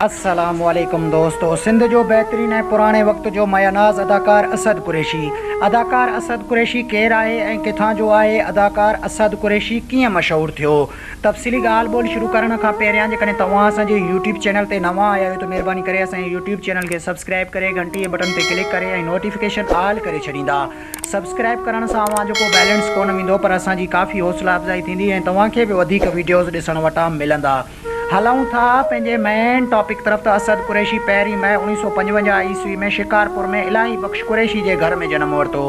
السلام عليڪم دوستو سنڌ جو بهترين ۽ پراڻي وقت جو ماياناز اداڪار اسد قريشي اداڪار اسد قريشي ڪير آهي ۽ ڪٿان جو آهي اداڪار اسد قريشي ڪيئن مشهور ٿيو تفصيلي ڳالهه ٻولهه شروع ڪرڻ کان پهريان جيڪڏهن توهان اسان جي يوٽيوب چينل تي نوان آيا آهيو ته مهرباني ڪري اسان جي يوٽيوب چينل کي سبسڪرائب ڪري گهنٽي جي بٽن تي ڪلڪ ڪري ۽ نوٽيفڪيشن آل ڪري ڇڏيندا سبسڪرائب ڪرڻ سان اوهان جو ڪو بيلنس ڪونه ويندو پر اسان جي ڪافي حوصلا افزائي ٿيندي ۽ توهان کي به وڌيڪ وڊيوز ڏسڻ وٽان ملندا. هلون ٿا پنهنجي مين ٽاپڪ طرف ته اسد قريشي پهرين مئي اڻويهه سؤ پنجونجاهه عيسوي ۾ شڪارپور ۾ الاهي بخش قريشي جي گهر ۾ جنم ورتو.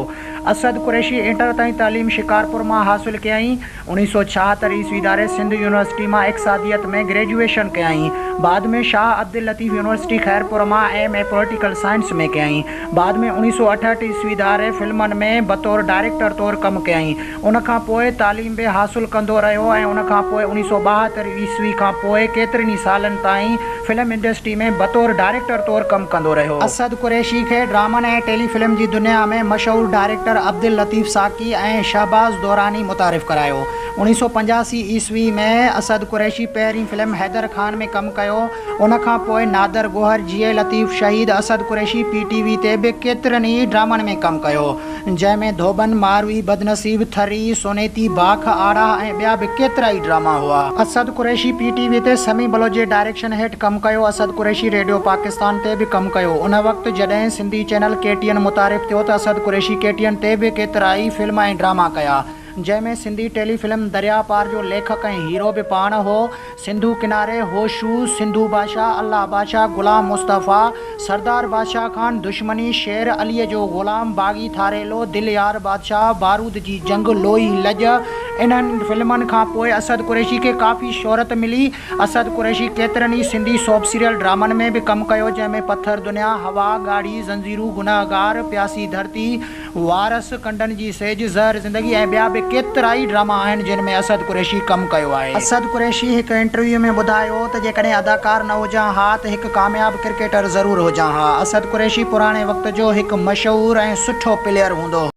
اسد قريشي انٽر تائين تعليم شڪارپور مان حاصل ڪيائين. اڻويهه سؤ ڇاهتر عيسوي ڌاري سنڌ يونيورسٽي مان اقصاديت ۾ گريجوئيشن ڪيائين. بعد ۾ شاهه عبداللطيف يونيورسٽي خيرپور مان ايم اي پوليٽيڪل سائنس ۾ ڪيائين. بعد ۾ اڻويهه سؤ اٺهٺ عيسوي ڌاري فلمن ۾ بطور ڊائريڪٽر طور ڪم ڪيائين. ان کان پوء تعليم به حاصل ڪندو رهيو ۽ ان کان پوء اڻيهه سؤ ٻاهتر عيسوي کان پوء ڪيترن ئي سالن تائين فلم انڊسٽري ۾ بطور ڊائريڪٽر طور ڪم ڪندو رهيو. اسد قريشي کي ڊرامن ۽ ٽيلي فلم جي دنيا ۾ مشهور ڊائريڪٽر عبداللطيف ساقي ۽ شهباز دوراني متعارف ڪرايو. اڻيهه سؤ پنجاسي عيسوي ۾ اسد قريشي پهرين فلم حيدر خان ۾ ڪم ڪيو. ان کان پوء نادر گوهر جيئي Latif Shaheed Asad Qureshi P T V تي به ڪيترن ئي ڊرامن ۾ ڪم ڪيو جنهن ۾ ڌوٻن، ماروي، بدنصيب، ٿري، سونيتي، باک، آڙاهه ۽ ٻيا به ڪيترا ئي ڊراما هئا. Asad Qureshi P T V تي سمي بلوچ جي ڊائريڪشن هيٺ ڪم ڪيو. اسد قريشي ريڊيو پاڪستان تي به ڪم ڪيو. ان وقت جڏهن Sindhi channel K T N متعارف ٿيو ته Asad Qureshi K T N تي به ڪيترا ئي فلم ۽ ڊراما ڪيا. جنهن ۾ سنڌي ٽيلي فلم درياء پار جو ليکڪ ۽ هيرو به پاڻ هو، سنڌو ڪناري، هوشو، سنڌو بادشاهه، الله بادشاهه، غلام مصطفيٰ، سردار بادشاهه خان، دشمني، شير عليء جو غلام، باغي ٿاريلو، دل يار بادشاهه، بارود جي جنگ، لوئي، لڄ، انهن فلمن کان پوء اسد قريشي کي ڪافي شهرت ملي. اسد قريشي ڪيترن ئي سنڌي سوپ سيريل ڊرامن ۾ به ڪم ڪيو جنهن ۾ پٿر دنيا، هوا، ڳاڙهي زنجيرون، گنهگار، پياسي ڌرتي، وارث، ڪنڊن جي سيج، زهر زندگي ۽ ٻيا به ڪيترائي ڊراما آهن جن ۾ اسد قريشي ڪم ڪيو آهي. اسد قريشي هڪ انٽرويو ۾ ٻڌايو ته جيڪڏهن اداڪار نه هجان ها ته هڪ ڪامياب ڪرڪيٽر ضرور هجان ها. اسد قريشي پراڻي وقت جو هڪ مشهور ۽ سٺو پليئر هوندو هو.